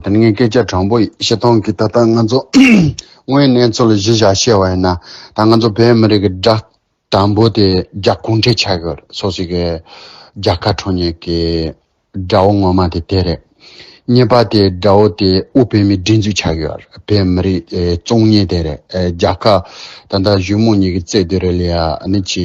ད་ནི་ངས་སྐད་ཆ་དྲང་པོ་ཞིག་བཤད་དང་གི་ད་ལྟ་ང་ཚོ་དངོས་གནས་ཚོ་ལ་གཞི་བཞག་བཤད་བ་ཡིན་ན་ད་ང་ཚོ་བོད་མི་རིགས་ཀྱི་དགྲ་དང་པོ་དེ་རྒྱ་གུང་ཁྲན་ཆགས་ཡོད་རེད་སོ་སི་གི་རྒྱ་ཁ་འཕྲོ་ཉེས་ཀྱི་དགྲ་བོ་ངོ་མ་དེ་དེ་རེད། གཉིས་པ་དེ་དགྲ་བོ་དེ་དབུས་བོད་མི་སྒྲིག་འཛུགས་ཆགས་ཡོད་རེད་བོད་མི་རིགས་བཙོང་ཉེས་དེ་རེད་རྒྱ་ཁ་ད་ལྟ་བཞུགས་མོ་གཉིས་ཀྱི་རྩེད་དེ་རེད་ལ་ཡ་ནི་ཆི་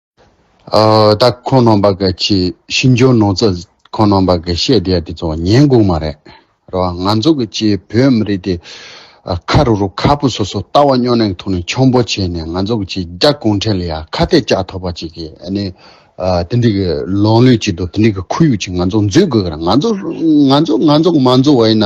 ད་ཁོང་ནང་པ་གི་ཆེས་ཤིན་ཅོ་ནོ་ཙི་ཁོང་ནང་པ་གི་བཤད་བསྡད་དེ་ཚོ་ཉན་དགོས་མ་རེད་རོ་ང་ཚོ་གི་ཆེས་བོད་མི་རིགས་དེ་ཁ་རུ་རུ་ཁ་པོ་སོ་སོ་ལྟ་བ་སྨྱོ་ནེང་ཐུག་ནས་ཆོམ་པོ་བྱེད་ནས་ང་ཚོ་གི་ཆེས་རྒྱ་གུང་ཁྲན་ལ་ཡ་ཁ་གཏད་བཅག་ཐོབ་པ་ཅིག་གི་ཨ་ནི་དེ་འདྲི་གི་ལོང་ལུས་ཅིག་དང་དེ་འདྲི་གི་ཁུ་ཡུག་ཅིག་ང་ཚོ་འཛུད་དགོས་གི་ར་ང་ཚོ་ང་ཚོ་ང་ཚོ་གི་མ་འཛུག་བ་ཡིན་ན་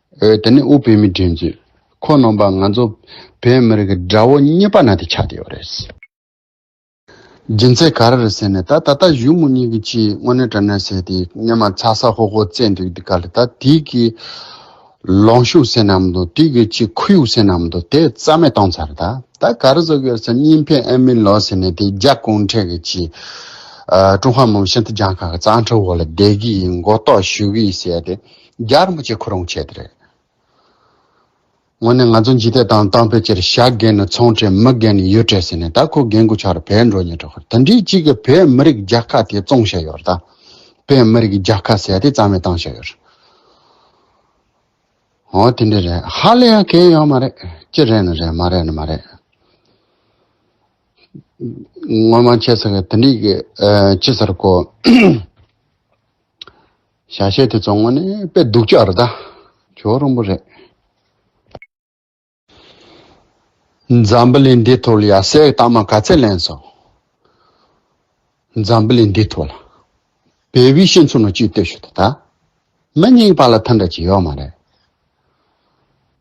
འོད་དེ་ནི་དབུ་བོད་མི་འགྲན་རྩོད་ཁོ་ནོངས་པ་ང་ཚོ་བོད་མི་རིགས་དགྲ་བོ་གཉིས་པ་ན་དེ་ཆགས་ཡོད་རེད། རྒྱུ་མཚན་ག་རེ་རེད་ཟེར་ནས་ད་ད་ལྟ་གཞུ་མོ་གཉིས་ཀྱི་ཆེད་དངོས་གནས་དགྲ་ནག་ཟེར་དེ་སྙེ་མ་ཚ་ས་ཧོ་ཧོ་བཙས་འདུག་དེ་ག་ལ་ད་དུས་ཀྱི་ལོང་ཤུགས་ཟེར་ནམ་དུ་དུས་ཀྱི་ཆེད་ཁུ་ཡུག་ཟེར་ནམ་དུ་དེ་རྩ་མེད་གཏོང་ཚར་ད་ད་ག་རེ་བཟོ་གི་ཟེར་གཉིས་ཕན་ཨེ་མིན་ལོ་ཟེར་ནས་དེ་རྒྱ་གུང་ཁྲན་གྱི་ཆེད་ཀྲུང་ཧྭ་མི་དམངས་སྤྱི་མཐུན་རྒྱང་ཁག་གི་གཙང་ཁྲའུ་འོག་ལ་བསྡད་གི་ཡིན་མགོ་རྟོགས་ཞུ་གི་ཡིན་ཟེར་ཏེ། རྒྱར་མི་བྱེད་ཁོ་རང་བྱེད་དེ་རེད། དངོས་གནས་ང་ཚོ་འཇིག་རྟེན་དང་དང་ཕལ་ཆེར་ཞག་རྒས་ནས་ཚོང་དྲེད་མི་རྒས་ནས་ཡོད་དྲེད་ཟེར་ནས་ད་ཁོ་རྒས་འགོ་ཆགས་ར་བས་འགྲོ་ཉེ་འགྲོ་ཁར་ད་འདྲིའི་གཅིག་གི་བས་མི་རིགས་རྒྱ་ཁ་དེ་བཙོང་བཤད་ཡོད་ར་ད། བས་མི་རིགས་རྒྱ་ཁ་ཟེར་དེ་རྩ་མེད་བཏང་བཤད་ཡོད་ར། ཧོ་དེ་འདྲས་རེད་ཧ་ལས་ཡང་གལ་ཡོད་མ་རེད། ཅི་རེད་ནི་རེད་མ་རེད་ནི་མ་རེད། ངོ་མ་ཁྱེད་ཟེར་གི་དེ་འདྲིའི་གི་ཅི་ཟེར་གོ། བྱ་བྱེད་དེ་བཙོང་བ་ནི་དཔེ་སྡུག་ཅག་རེད་ད། ཇོ་རིང་པོ་རེད། འཛམ་བུ་གླིང་འདི་ཐོག་ལ་ཡ་སའི་རྟགས་མ་ག་ཚད་ལེན་སོང། འཛམ་བུ་གླིང་འདི་ཐོག་ལ། བལ་བོའི་ཤེས་མཚོན་ནོ་ཅིག་ལྟོས་ཤོད་ད། མི་རྙིང་པ་ལ་ཐུན་འདྲ་ཅིག་ཡོད་མ་རེད།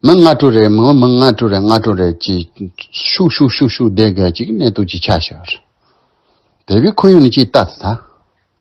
མི་ལྔ་དྲུག་རེ་མི་ལྔ་དྲུག་རེ་ལྔ་དྲུག་རེ་ཅིག་ཤུག་ཤུག་ཤུག་ཤུག་བསྡད་གལ་ཅིག་གནས་སྟུག་ཅིག་ཆགས་ཤག། བལ་བོའི་ཁོར་ཡུག་ནི་ཅིག་ལྟ་ད།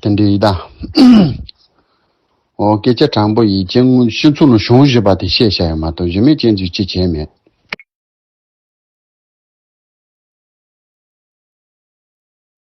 དེ་འདྲའི་ཡི་དྭགས། ཨོ། སྐད་ཆ་དྲང་པོ་ཡིས་ཅན་དངོས་གཞི་མཚོ་ལུ་གཞུང་བཞི་པ་དེ་བཤད་བྱ་ཡོད་མ་གཏོགས་གཞི་མེད་ཅན་ཚོས་ཅི་བྱས་མེད།